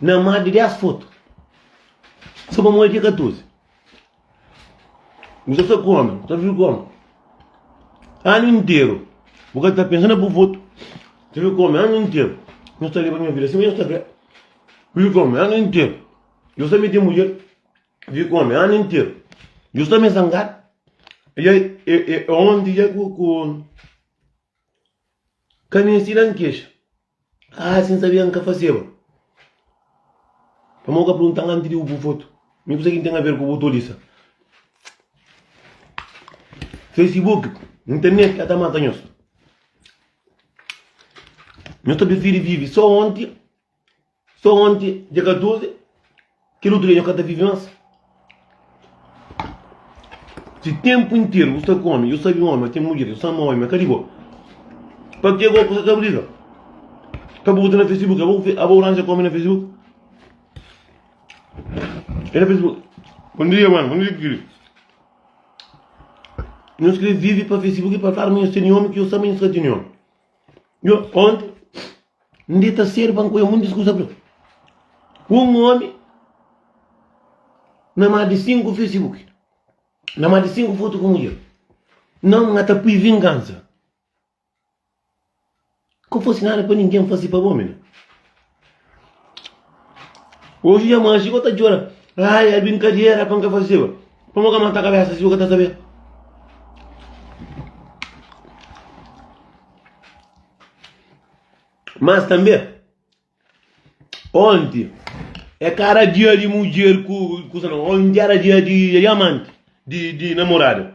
Na má di dés fotu, so pamodi ki é katozi bu ta sta kome, bu ta vive kome anu interu? Bu ka ta pensa na bu fotu, ta vive kome anu interu? Nhos ta leba nha vida sima nhos ta krê, vive kome anu interu? Nhos ta mete mudjer, vive kome anu interu? Nhos ta mê zangadu, dja é onti dja ku. Ka N ensina N kexa. Aa si N sabia N ka faseba. Pamodi bu ka prunta-m antis di bu pui fotu? Mi kusa ki N ten aver ku bu tolisa? Fesibuki, Internet ka ta mata nhos. Nhos ta prifiri vivi so onti. So onti dia 14 kel utru dia nho ka ta vivi mas si tempu interu bu sta ku omi yo sabi omi ten mudjer yo sa ama omi ma ka di bo pa ke bo ku sa ta briga ka bu na facebook abo ranja ku omi na facebook e na facebook bom dia mano bom dia kiri nho skre vivi pa facebook pa kla ma nho teni omi ki yo sa ma nho sa teni omi Yo, onde ndi ta ser banco yo muitas coisas para um homem na mais de cinco Facebook na mais de cinco fotos com mulher não nga ta pui vingança que fosse nada para ninguém fazer para homem Ouvia ma Chico ta djora. Ai, é brincadeira, pan ka fazeba. Pan mo ka mata cabeça, Chico ka ta sabê. Mas tambê, onti, é ka era dia di mudjer ku kusa, no, onti era dia di diamante, di namorada.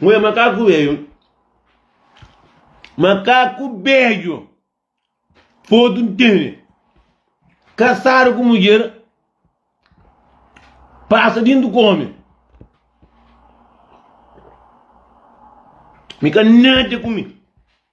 Mulher makaku veio. Makaku bejo. Foto ntende. Kasado ku mulher. Pasa dintu kome. Mi ka nada ku mi.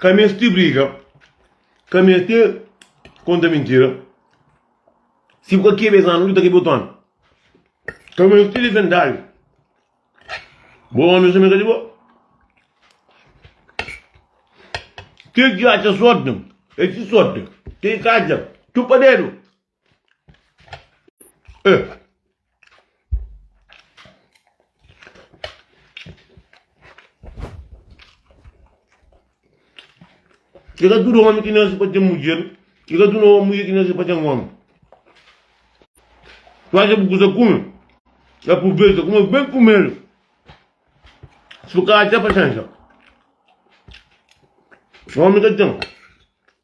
Ka meste briga, ka meste konta mintira. Si bu ka kebe es anu, ki ta kebe otu anu. Ka meste difende algu. Bo omis ta meta di bo. Kel ki atxa sorti, el si sorti. Kel ki ka atxa, txupa dedu. I ka tudu omi ki na si pa ten mudjer, i ka tudu mudjer ki na si pa ten omi. Tu acha bu kusa kume, aproveita kume ben primeru, si bu ka acha pasensa omi ka ten.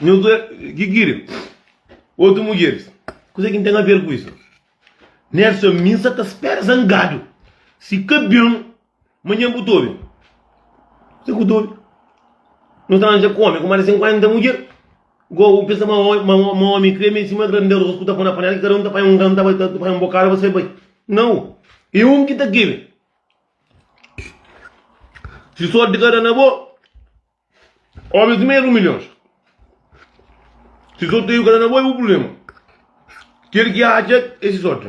Nhos dua ki kiri otu mudjeris. Kuzê ki N ten aver ku isu? Nerson, Mi N sta ta spera zangadu. Si ka ben, manhan bu ta obi. Kuzê ki bu ta obi? Nhos ta aranja kome ku más di 50 mudjer. Góu, N pensa ma ma ómi kria mi sima granderos ku ta pô na panela ki kada un ta panha un gran ta bai ta panha un bokada pa sai bai. Nau, i un ki ta kebe. Si sórti ka da na bo, ómi sima el un milhons. Si sorteiu ka da na bo, i bu prubléma. Kel ki atxa e si sórti.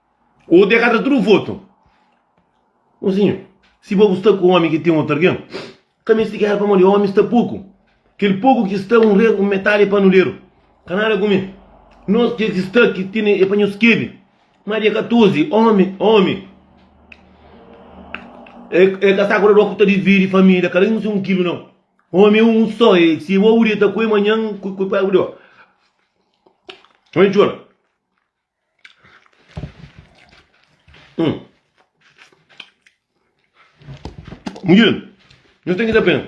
Ou te gata tudo voto. Mozinho, si bo bu sta ku omi ki ten otu argen, ka mesti gera pamodi omi sta poku. Kel poku ki sta un regu metadi e panuleru. Ka nada ku mi. Nos kel ki sta ki tene e pa nhos kebe. Ma dia 14, omi, omi, e e ka sta ku dador ku ta dividi familia, kada un si un kilu nau. Omi e un so, e si bo bu deta ku e manhan ku ku pa bu dor. Omi txora. Mudjer, nhos ten ki ta pena?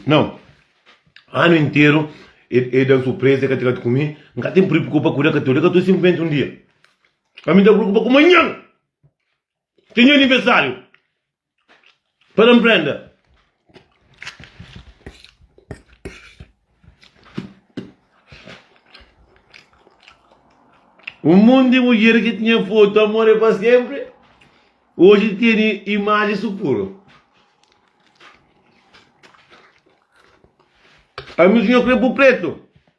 Nau. Anu interu e e da-m surpreza, e ka tradu ku mi. N ka ten pripu ku pa kuda ka tudu. Ka tudu sinplimenti un dia. Ami ta priukupa ku manhan, ki é nha anivesariu. Pa nan prende. Un monti di mudjer ki tinha fotu Amor é pa sénpri oji tene imaji su puru. Ami sugna krê bu pretu.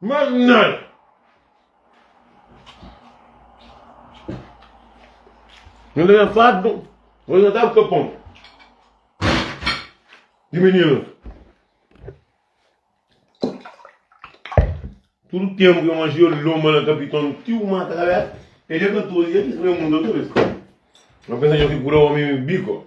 Mas nel. Nel ta ben fardu, oji na tava kapon di mininu. Tudu tempu eu manji eu lomba na kapiton tiu mata kabesa. E dia 14 dia ki sreu mundo outra vez. Não pensa que eu fico curou homem bico.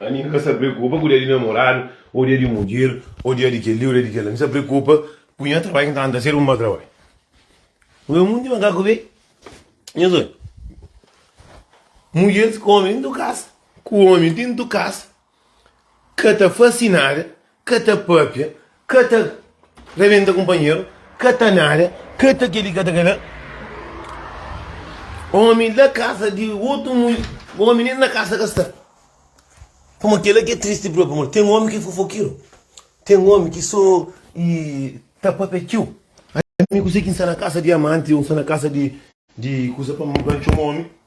A mi ka sa preokupa ku dia di namoradu, o dia di mudjer, o dia di kel-li, o dia di kel-la. Mi sa preokupa ku nha trabadju ki ta tenta ser un mau trabadju. Pui un monti makaku be nhas odju. Mudjer ku omi tintu kasa, ku omi tintu kasa. Ka ta fase nada, ka ta papia, ka ta rebenta kunpanheru, ka ta nada, ka ta kel-li, ka ta kel-la. Ómi la kasa di otu mudjer, ómi nen na kasa ka sta. Pamodi kel-la ki é tristi própi. Pamodi ten ómi ki é fofokeru, ten ómi ki sô ta papia txeu. Ami kuzê ki N sta na kasa di amanti ô N sta na kasa di kuza pa N txoma ómi?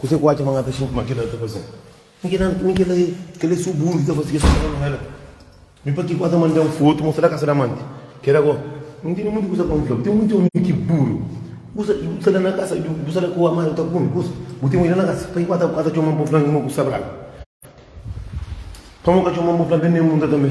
Kuzê ki u atxa ma N ka ta xinti ma kel-la ta faze-m? Mi ki da-m txumi, kel-la é, kel-la é si-u buru ki ta faze kes kuzas mal. Mi pa ki ku ata manda-m fotu mostra-l kasa di amanti? Kel-la gó, N intende munti kuza pa N fla-bu. Ten munti ómi ki buru. Bu sa, bu sta la na kasa, bu sta la ku amanti ta kume kuza, bu ten oji la na kasa. Pa ki ku ata txoma-m pa N fla-m ma bu sta brabu? Pamodi bu ka txoma-m pa N fla-m ben di N munda tanbê?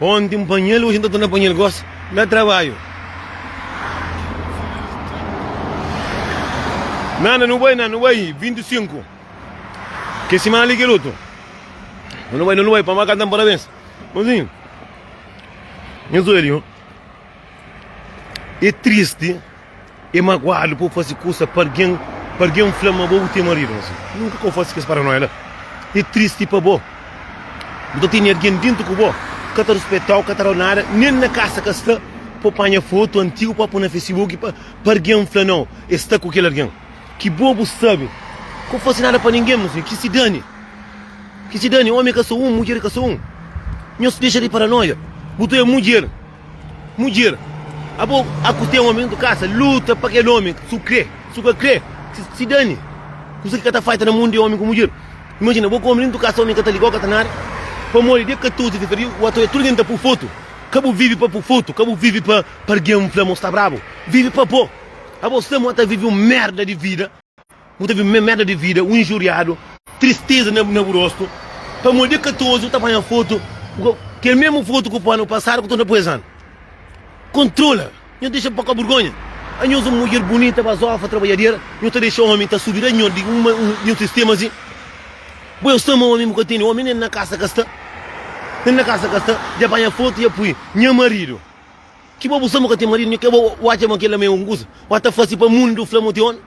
Onti N panha-l, oji N ta torna panha-l gosi na trabadju. Nana, nu bai, nana, nu bai 25. Kel simana li kel otu. Nana, nu bai, nana, nu bai pa ma kanta-m parabens. Manzinhu, nhos odja li, ho. É tristi. É maguadu pa bu faze kusa pa algen, pa algen fla ma bo bu ten maridu. Mas nunka ka bu faze kes paranóia la. É tristi pa bo. Bu ta tene algen déntu ku bo ki ka ta ruspeta-u, ka ta da-u nada, nen na kasa ka sta. Pa panha fotu antigu pa poi na Facebook pa algen fla nau el sta ku kel algen. Ki bo bu sabe. Ka bu faze nada pa ningen, mas ben ki se dane. Ki se dane. Ómi ka sta un, mudjer ka sta un. Nhos dexa di paranóia. Bu ta é mudjer. Mudjer, abo a ku ten omi ntu kasa, luta pa kel omi, si bu kre, si bu ka kre, ki si dani. Kusa ki ka ta falta na mundu é omi ku mudjer. Imajina, bo ku omi li ntu kasa, omi ka ta liga-u, ka ta nada. Pamodi dia 14 di fevereru, bu atrai tudu algen ta pô-u fotu. Ka bu vive pa pô-u fotu, ka bu vive pa algen fla ma bu sta brabu. Vive pa bo. Abo sta ma bu ta vive un merda di vida. Bu ta vive mérda di vida, un injuriadu, tristeza na bu rostu, pamodi é ka ta ozi bu ta panha fotu, kel mesmu fotu ku panu pasadu ku ta nda-puezan. Kontrola, nho dexa pa ka burgonha. Anhos un mudjer bunita, bazofa, trabadjadera, nho ta dexa omi ta subi da nho di un nho sistema azi. Bu é un sama omi, bu ka teni omi, nen na kasa ka sta, nen na kasa ka sta, dja panha fotu dja pui, nha maridu. Ki bo bu sta mo ka ten marido nhu ke bo u atxa ma kel la ma e un kusa u a ta fasi pa mundu fla mo tione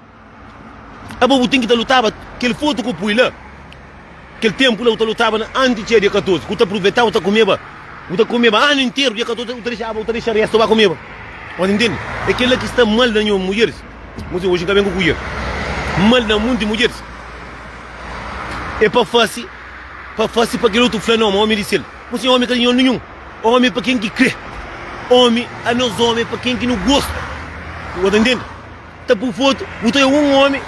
a bo bu ten ki ta lutaba kel foto ku pui la kel tempu la u ta lutaba na anti txia dia 14 ku ta pruvetaba u ta kumeba u ta kumeba anu interu dia 14 u ta dexaba u ta dexa resto ba kumeba o ta ntende e kel la ki sta mal na nho mudjeris mo si oxi nka ben ku kuier mal na munti mudjeris e pa fasi pa fasi pa kel otu fla no ma omi di sel mo si omi ka di nho ninhun. Omi pa ken ki kre. Omi a nos omi pa ken ki nu gosta. Bu ta ntende? Ta pui fotu, bu ta obi un omi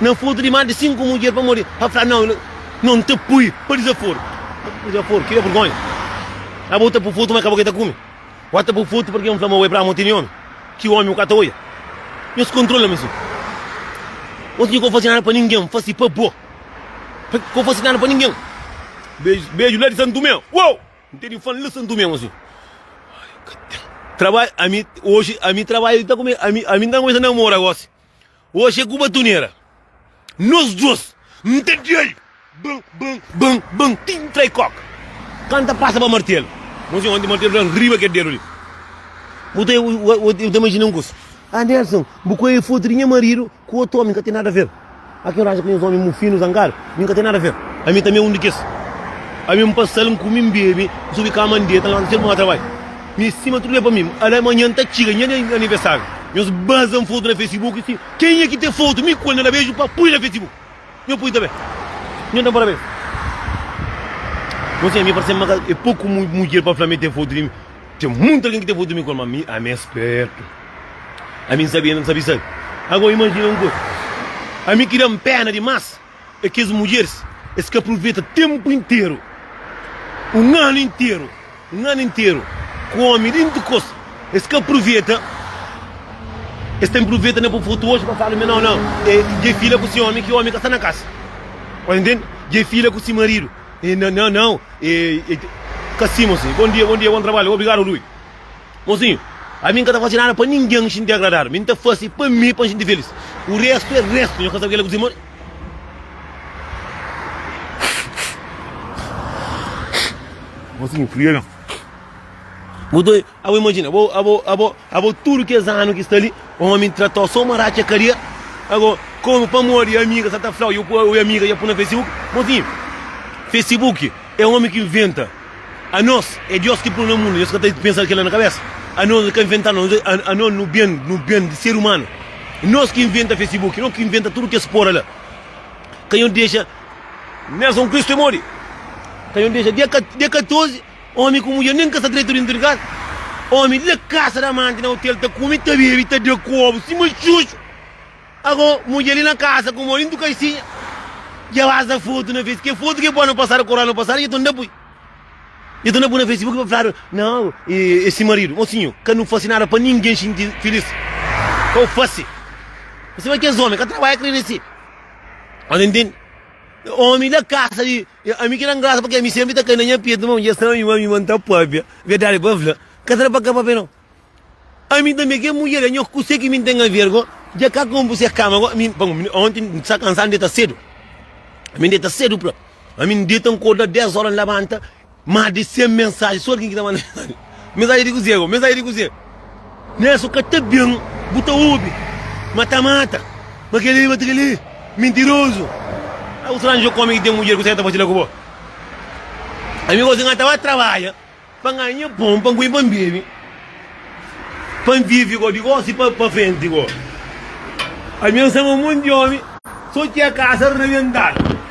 na fotu di más di sinku mudjer pamodi el ta fla, Nau, nau N ta pui pa dizaforu. Pa dizaforu? Kel-li é vergónha. Aba bu ta pui fotu ma ka bo ki ta kume. Bu ta pui fotu parski N fla ma bo é prama bu tene omi. Ki omi bu ka ta odja. Nhos kontrola mi si. Nhos ka bu faze nada pa ningen, N faze pa bo. Ka bu faze nada pa ningen. Beju, beju la di Santu Tomé. Uou! N tene fan la Santu Tomé gosi. Trabadju, ami, oji, ami trabadju ta kume, ami, ami ta kumesa namora gosi. Oji e ku batunera. Nos dos, N ta dia-l. Bam, bam, bam, bam, ti N trai koka. Ka N ta pasa pa martelu. Gosi, onti martelu fla-m riba kel dedu li. Bu ta, bu ta imajina un kusa. Ah, Nelson, bu kuei fotu di nha maridu ku otu omi, N ka ten nada aver. Má ken raja kes ómi mufinu zangadu, mi N ka ten nada fer. Ami tanbê é un di kes. Ami N pasa-l, N kume, N bebe, N subi kama, N deta, N labanta sénpri N bai trabadju. Mi stima tudu bê pa mi. Ala, manhan N ta txiga nha dia di aniversáriu. Nhos baza N fotu na Facebook i sima. Kenha ki ten fotu mi ku el na da beju pa pui na Facebook? Nhos pui tanbê. Nhos da-m parabéns. Gosi ami parse-m ma ka é poku mudjer pa fla ma el ten fotu di mi. Ten muita algen ki ta fla tumi koma ami, ami é spertu, ami n sabe, ami n sabe sabe. Ago imajina un kuza, ami ki da-m pena dimas é kes mudjeris, es ka pruveta tenpu interu, un anu interu, un anu interu ku omi di ntikos, es ka pruveta, es ten pruveta na pui frutu oji pa fala mi nau nau, dja i fila ku si omi, ki omi ka sta na kasa, ora ntende, dja i fila ku si maridu. E na na nãu e e te. Ka si, mozinhu. Bon dia, bon dia, bon trabadju. Obrigadu, Rui. Mozinhu, ami n ka ta fase nada pa ningen xinti agradadu. Mi n ta fase pa mi pa n xinti felis. O restu e restu. Nho ka sabe kila ku dise. Mozinhu, friega. Bu ta. Abo imajina, abo, abo, abo, abo tudu kes anu ki sta li, omi trata-u sô ma ratxa karia. Ago, komu pamodi i amiga sa ta fla-u, i amiga dja pu na Facebook. Mozinhu, Facebook é omi ki inventa. Anos é Dios ki pô-nu na mundu, nhos ka ta pensa kela na kabesa? Anos ka inventa nos, anos nu ben, nu ben di ser umanu. Nos ki inventa Facebook, nos ki inventa tudu kes pora la. Ka nhos dexa. Nelson Cristo é modi? Ka nhos dexa dia, dia 14. Omi ku mudjer nen ka sta dretu dintu di kasa. Omi di la kasa di amanti na otel ta kumi, ta bebi, ta da kobu sima txutxu. Ago, mudjer li na kasa ku mo dintu kaixinha, dja baza fotu na face. Ke fotu ke poi na pasadu, ku ranu pasadu, dja ton da pui. Dja ton da pui na Facebook pa fladu, Nau, e si maridu. Mo sinhu, ka nu fasi nada pa ningen xinti filis. Kau fasi. Bo sabe kes omi ka trabadja kre risibi. Bo ta intendi? Omi di la kasa di. E ami ki da-m grasa pake ami senpri ta kai na nha petu ma un dia sami ma ami ma N ta pâpia. Verdadi pa fla, ka sera pa ka pâpia no. Ami tanbe ke mudjer la, nho kuse ki mi N ten a ver go, dja ka konpu se kama go, ami pa mi onti N sta kansadu N deta sedu, ami N deta sedu pra ami N deta N korda 10 óra N labanta más di 100 mensaji sô di kin ki ta manda mensaji. Mensagem di kuzê? Mensagem di kuzê? Né so ka ta ben bu ta obi mata mata ma keli mata keli mentiroso au tranjo kome ki tem mudjer kuzê ka ta fasi la ku bo ami gosi nga ta ba trabalha pa nganha pon pa nkuin pa nbebi pa nvivi go di gosi pa pa frenti go ami ansama um monte di omi so txia kasa rebental.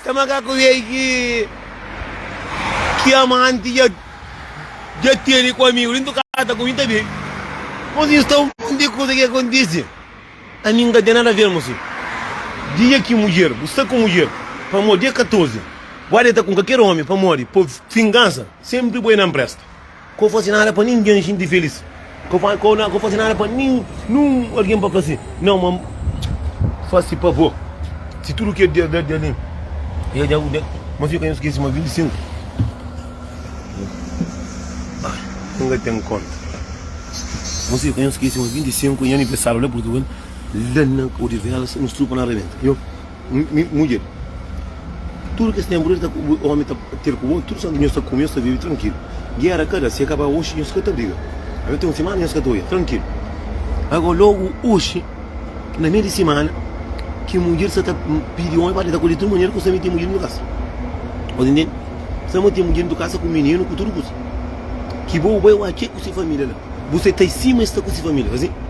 Sta makaku vei ki ki amanti ja ja teni ku amigu lintu kata ku mi ta bin. Mosinhu sta un monti di kuza ki akontisi. Ami n ka ten nada ver mosinhu. Dia ki mudjer bu sta ku mudjer pamodi e 14 bu adi ta ku kalker omi pamodi pa vingansa senpri bu e na npresta. Ko fase nada pa ningen xinti felis Ko fase nada pa ninhun algen pa plase Nau ma fase pa bo Si tudu ke Deus da di alin Ya dja bu Ma fika N skese ma 25 N ka ten konta Ma fika N skese ma 25 Nha aniversário la Portugal La na Odivelas Nos trupa na rebenta Mudjer, Tudu kes ténpu dja ta obi ómi ta ter ku bo, tudu santu nhos ta kume, nhos ta vive trankilu. Géra ka da, si é ka pa oxi, nhos ka ta briga. Ami ten un simana nhos ka ta oja, trankilu. Ago, lógu oxi, na mei di simana, ki mudjer sa ta pidi ómi pa deta ku li, tudu manera ku sa mete mudjer dentu kasa. Bo ta ntende? Sa mete mudjer dentu kasa ku mininu, ku tudu kuza. Ki bo bai oja ki é ku se família la. Bu sai ta i sima i sta ku se família, ka sin?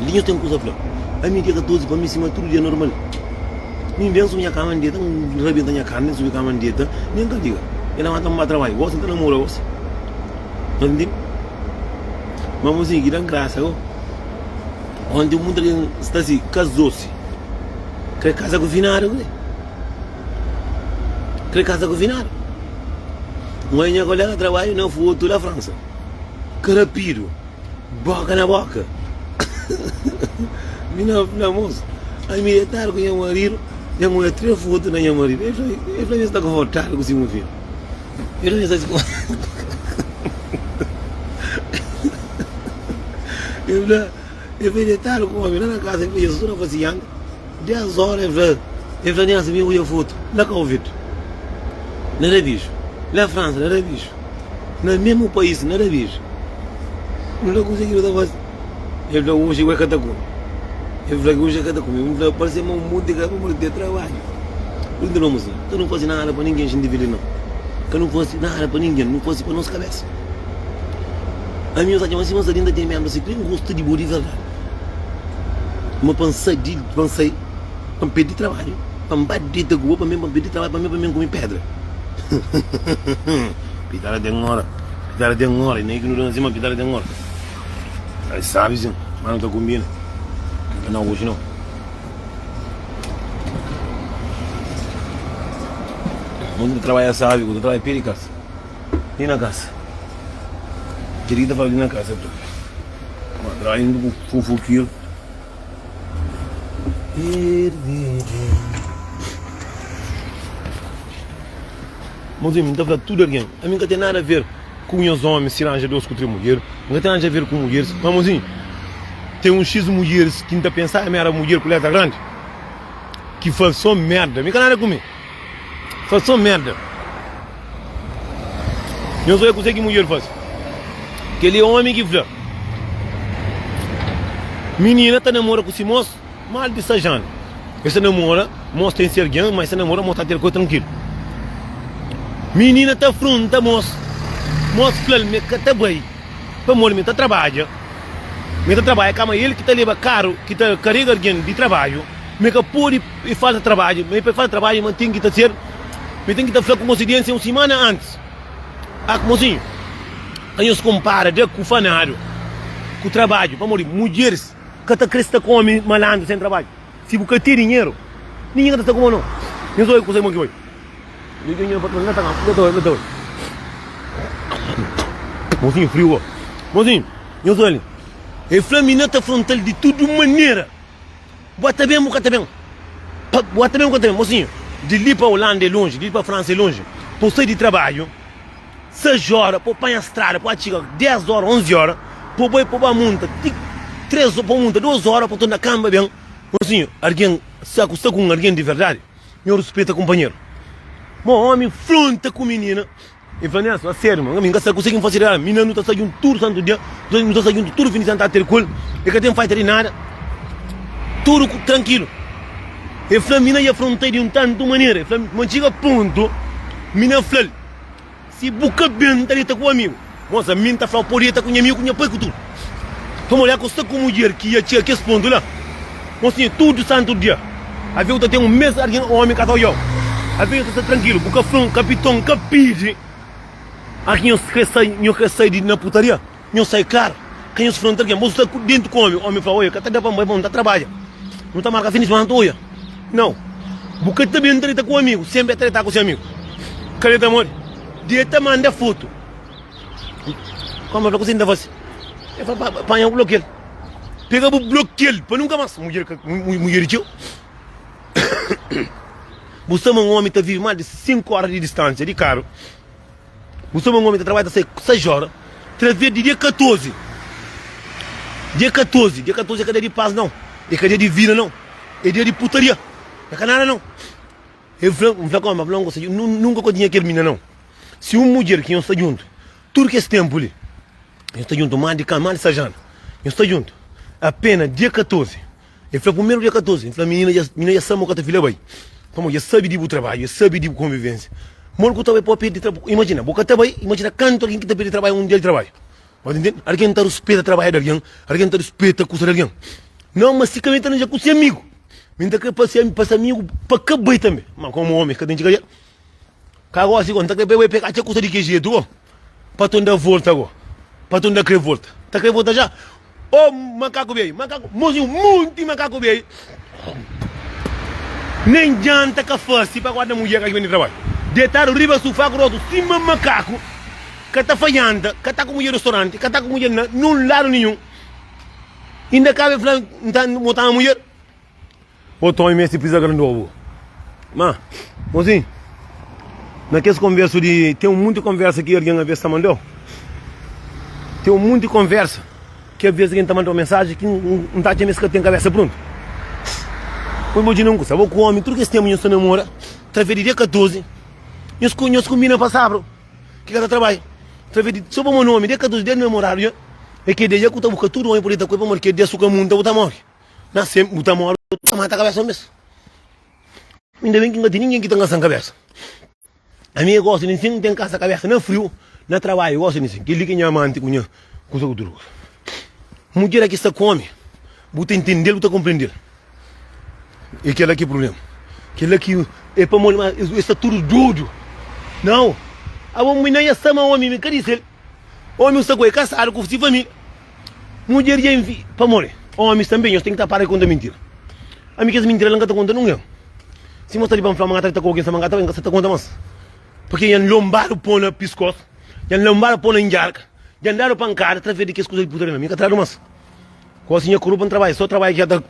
Li nhos ten kuza fla Ami dia 14 pa mi sima tudu dia normal Mi n ben subi nha kama n deta N rabenta nha karni n subi kama n deta Mi n ka liga E lamanta-m ba trabalhu Gosi n ta namora gosi Nhos ta ntende? Ma mozinhu ki da-m grasa gó Onti un punta kel sta si Kazó-si Kre kaza ku finadu kre Kre kaza ku finadu Un oja nha kolega trabalhu na fotu la Fransa Karapidu Boka na boka. Mi na fla, Mosu, ami e tara ku nha maridu, nha mô e três fotu na nha maridu. El fla, Mi sta konfortável ku si mu fidju. El fla, Mi sta konfortável. El fla, El fla, Deitadu ku omi la na kasa. El fla, Jezus, N na fla si yanga. Dés óra el fla, el fla Nélson, mi odja fotu na Kauvetu, na Rabiju, na Fransa, na Rabiju, na mesmu país, na Rabiju, nu ta konsigi nu ta faze. El fla, oji ku el ka ta kume. El fla ki oji el ka ta kume. Mi fla, parse ma un monti ka pamodi ten trabadju. Pur inda nu almose la. Ka nu fase nada pa ningen xinti fili nau. Ka nu fase nada pa ningen, nu fase pa nos kabésa. Ami, nhos atxa ma si nhos ta linda ten ménbru si, ten gostu di bo di verdadi. ma pa N sai di, pa N sai, pa N perde trabadju, pa N ba di ta goa, pa mi, pa N perde trabadju, pa mi, pa mi N kumi pedra. Pitada ten ora, pitada ten ora, i na igu nu danzi ma pitada ten ora. Ai sabi sin, ma nu ta kumbina, ma na oji no. Un ta trabadja sabi, ku ta trabadja pé di kasa, li na kasa, kel li ta fala li na kasa. Madrainha bu fofokir. Mozinho, mi ta fla tudo alguém, ami ka tem nada a ver ku nhas homens se ranja dois ku três mulheres, mi ka tem nada a ver ku mulheres, mas mozinho, tem um x mulheres ki mi ta pensar ami era mulher ku letra grande, ki fal só merda, mi ka nada ku mi. Fason merda. Nhos odja kuzê ki mudjer faze. Kel-li é ómi ki fla, Minina ta namora ku si mos mal di sais anu. Es ta namora mos ten si algen, má es ta namora mos ta ten kuza trankilu. Minina ta afronta mos, mos fla-l ma el ka ta bai pamodi ma el ta trabadja. Ma el ta trabadja ka, má el ki ta leba karu ki ta karega algen di trabadju. Ma el ka pode. I falta trabadju, ma i pa i falta trabadju ma ten ki ta ser, ma i ten ki ta fla ku mosidiensia un simana antis. A kuma sin? Ka nhos konpara da ku fanadu ku trabadju, pamodi mudjeris ka ta kre sta ku omi malandru sen trabadju. Si bu ka ten dinheru, ningen ka ta sta ku bo no. Nhos obi kusa ki bon ki oi. Mosinhu friu bo. Mosinhu, nhos obi li. E fla mi na ta frontal di tudu manera. Bua ta ben bu ka ta ben pa bua ta ben bu ka ta ben mosinhu di li pa Holanda é lonji di li pa Fransa é lonji pa u sai di trabadju 6 ora pa u panha strada pa u atxiga 10 ora 11 ora pa u bai pa u ba munta ti 3 ora pa u munta 2 ora pa u torna kanba ben mosinhu argen sa ku sta ku un argen di verdadi nho ruspeta kunpanheru mo omi fronta ku minina E fla nes, Má sério, ma, mi N ka sta kuzê ki N faze eradu. Mi i N, nu ta sta djuntu tudu santu dia, nu ta sta djuntu tudu fin di sema, nu ta ter ku el, e ka ten faita di nada, tudu trankilu. El fla, Mi na i afronta-i di un tantu manera. El fla, Má N txiga pontu, mi na fla-l, Si bu ka ben ta deta ku amigu, mos ami N ta fla-u, pode deta ku nha amigu, ku nha pai, ku tudu. Pa mulher ku sta ku mudjer ki ya txega kes pontu la, Mon Sinhor, tudu santu dia avé u ta ten un mes argen omi ka ta odjau. Avé nho ta sta trankilu, bu ka fla un kapiton, N ka pidi a ki nhos kre sai, nho kre sai di na putaria. Nho sai klar ka nhos fla nta argen, bo sta ku dentu ku omi. Omi fla, Oia, ka ta da pa N bai pa N ta trabadja, nu ta marka fin di semana nta oia. Nau, bu ka ta ben treta ku amigu, senpri a treta ku se amigu. Ka be pamodi Dia ta manda fotu. Koma fla, kusi N ta fase? El fla, Ba, panha bu, blokia-l. Pega bu, blokia-l pa nunka más. Mudjer ka, mudjer di txeu. Bu sta ma un ómi ta vive más di sinku óra di distánsia di karu. Bu sta ma un ómi ta trabadja ta sai sais óra, través di dia 14. Dia 14, dia 14 é ka dia di pas nau, é ka dia di vida nau, é dia di putaria, é ka nada nau. El fla, N fla, Koma? El fla, N gosta dje, nun, nunka kontinha kel mina nau. Si un mudjer ki nhos sta djuntu tudu kes ténpu li, nhos sta djuntu más di ka, más di sais anu, nhos sta djuntu apénas dia 14, el fla, primeru dia 14, el fla, minina dja, minina dja sabe ma ka ta fila bai, pamodi dja sabe di bu trabadju, dja sabe di bu konvivénsia. Modi ku ta bai pa bu perde trabadju? Imajina, bu ka ta bai, imajina kantu algen ki ta perde trabadju un dia di trabadju. Bo ta intende? Algen ta ruspeta trabadju di algen, algen ta ruspeta kusa di algen. Nau, ma si ka ben ta anja ku se amigu, ben ta krê pa se, pa se amigu pa ka bai tanbê. Má, kómu ómi, es ka ten ki ka dja. Ka gosi go, nta kre be, peka txe kusa di ke jetu go, pa ton da volta go, pa ton da kre volta, ta kre volta ja, o makaku bey, makaku, mosi un monti makaku bey, nen djanta ka fasi pa guarda mudjer ka ki beni trabadju, detadu riba sufa grosu sima makaku, ka ta fajanta, ka ta ku mudjer restoranti, ka ta ku mudjer na nen ladu ninhun, inda ka be fla nta mo tama mudjer. Otu omi meste pisa grandi obu. Ma, mozi, na kes konversu di. Ten un monti konversa ki algen aves ta mandau. Ten un monti konversa ki aves algen ta mandau mensaji ki N ta atxa ma es ka ten kabesa pruntu. Poi bo djina un kusa, bo ku omi tudu kes tenpu nhos ta namora, través di dia 14, nhos kunbina pa sabru ki ka ta trabai. Través di, so pamodi omi dia 14 dia di namoradu dja, e ki dia dja ku ta bu ka tudu omi pudi ta kue pamodi ki dia su ka munta bu ta mori. Na sem bu ta mori bu ta mata kabesa mes. Inda bem ki nga ti ninguém ki ta ngasan kabesa. A mi gosta ni sim tem casa cabeça na frio na trabalho gosta ni sim que li que nha amante com nha coisa com tudo mulher aqui está come buta entender buta compreender e que ela que problema que ela que é para molho mas está tudo doido não a bom mulher está mal homem me cadê ele homem está com casado com sua família Mudjer dja invi... Pamodi omis tanbe, nhos ten ki ta para di konta mintira. Ami kes mintira la N ka ta konta nungen. Si nhos sta di pa N fla ma N ka ta dita ku algen, sima N ka ta bai, N ka sta ta konta mas. Purkê dja N lonbadu pô na piskos, dja N lonbadu pô na ndjarka, dja N dadu pankada, través di kes kuza li purta di mi. Ami N ka tradu mas. Gosi nha kuru pa N trabadja, sô trabadja ki dja ta.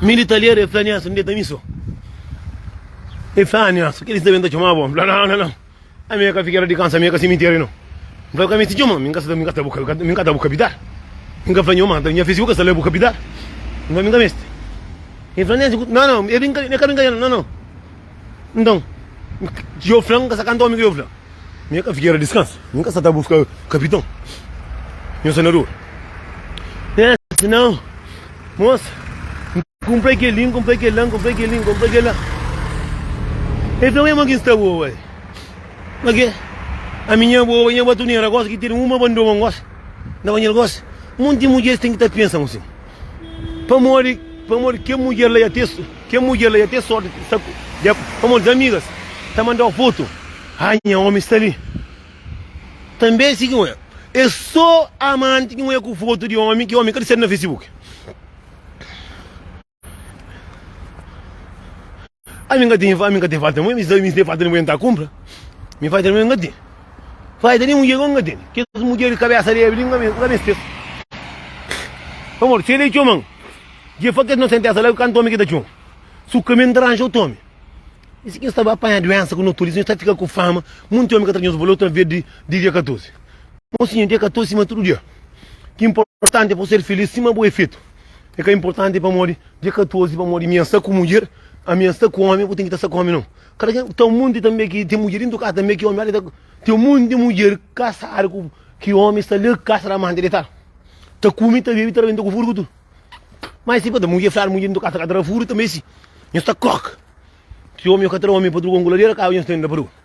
Mi di ta lera, el fla, Nielson, deta mi so. El fla, ah, Nielson, kel sta ben ta txoma bo? Mi fla, não, não, não. Ami é ka fiquera de cansa, ami é ka cemitério, não. Mi fla, ka mi si txoma, mi ka sta, mi ka sta bu, mi ka sta bu kapital. Mi ka fla, nho mata, nha fisiku ka sta la bu kapital. Mi fla, mi ka meste. Ele fla, Nielson, não, não, é brincadeira, não é brincadeira, não, não. Então, eu fla, ka sa kanta omi ki eu fla. Nha ka fikéra diskansa. Nha ka sa ta buska kapiton, nha sanador. Nha sinan, mosa, N kunpra kel-li, N kunpra kel-la, N kunpra kel-li, N kunpra kel-la. El fla, Ué, ma ki N sta bo, uai? Ma ke? Ami nha bo, nha ba turnera, gosi ki ten uma bandoma, N gosi, N ta ba-l gosi. Monti mudjer ten ki ta pensa-m asin. Pamodi, pamodi kel mudjer la ya tê, kel mudjer la ya tê sorti di sta, pamodi es amigas ta manda-u fotu, Ha, nha ómi sta li. Tanbê si ki N oja, é sô amanti ki N oja ku fotu di ómi ki ómi ka dissedu na Facebook. Ami n ka ten, ami n ka ten falta nenhuma, mis ami n ka ten falta nenhuma, nta kunpra, mi falta nenhuma, mi ka ten, falta nenhum dinheru ami n ka ten, kes mudjer di kabesa lebi li, ami n ka meste-s, pamodi se el é txoman, dje fla kes inosentexa la, kantu omi ki ta txoma, su kaminhu ta ranja otu omi, i si ki nu sta ba panha duensa ku no tudu, i si nu sta fika ku fama, monti omi ka tra nos bolotu na vez di di dia 14, mosinha dia 14 sima tudu dia, ki inportanti é pa bu ser filís sima bu é fetu. É ka inportanti pamodi dia 14 pamodi mi a sta ku mudjer, ami a sta ku omi, bu ten ki ta sta ku omi no. Kada ken ta un monti tanbe ki ten mudjer intu kasa tanbe ki omi ta ten un monti mudjer kasadu ku ki omi sta le kasa da mandi detal. Ta kumi, ta bebi, ta rabenta ku furku tudu. Mas si pa ta mudjer fladu mudjer intu kasa ka ta ra furku tanbe si. Nhos ta krok. Si omi ka tra omi pa truga un kuladera, ka nhos ta inda pa truga.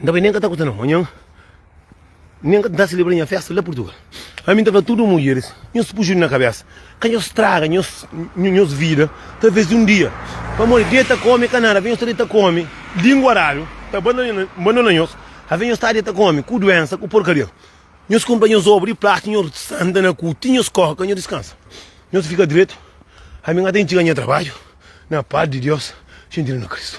N ta bai, nen ka ta kusta na manhan, nen ka ta selebra nha festa la Purtugal. Ami N ta fla tudu mudjeris, nhos puxa un na kabesa, ka nhos straga nhos vida, talvês un dia, pamodi deta kome ka nada, avê nhos ta deta kome lingua radu, ta bandona nhos, avê nhos ta deta kome ku duensa, ku porkaria. Nhos kunpra nhos obu di plástiku, nhos santa na ku, ti nhos kóre ka nhos diskansa. Nhos fika dretu, ami N ka ta intxiga nha trabadju na paz di Deus xintinu na Kristu.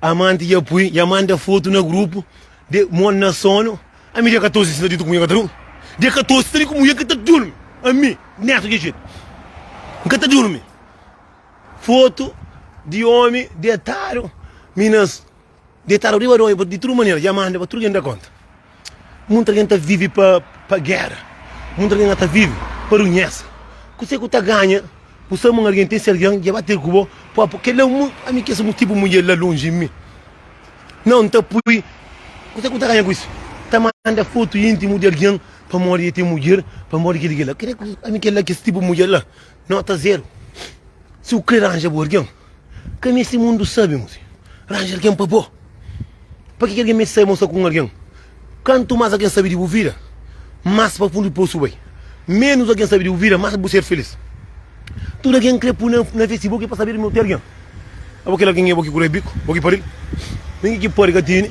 Amante dja pui dja manda foto na grupo de mon na sono ami dia 14 si ta ditu ku mulher ka ta durmi dia 14 si ta ditu ku mulher ka ta durmi ami neto dja jetu nka ta durmi foto di omi detadu mi na detadu riba di omi di tudu manera dja manda pa tudu ken da konta Munt algen ta vive pa pa gera Munt algen ata vive pa runhesa Kuse ku ta ganha bu sta mun algen ten si algen dja ba ter ku bo po po kel la mun ami kes mutibu mun dja la lonji mi nau nta pui Kuse ku ta ganha ku is ta manda fotu intimu di algen pamodi e ten mudjer pamodi kel ki kel la ami kel la kes tipu mudjer la nota zero si bu kre ranja bu algen. Ka meste mundu sabe mo si. Ranja algen pa bo. Pa ki ki algen meste sabe mo sta ku un algen? Kantu mas algen sabe di bu vida, mas pa fundu di posu bu bai. Menus algen sabe di bu vida, mas pa bu ser filis. Tudu algen kre pui na vesti bo ki pa sabedu ma bu ten algen. Abo kel algen é bo ki kurebi biku, bo ki pardil. Ningi ki pode ka tene.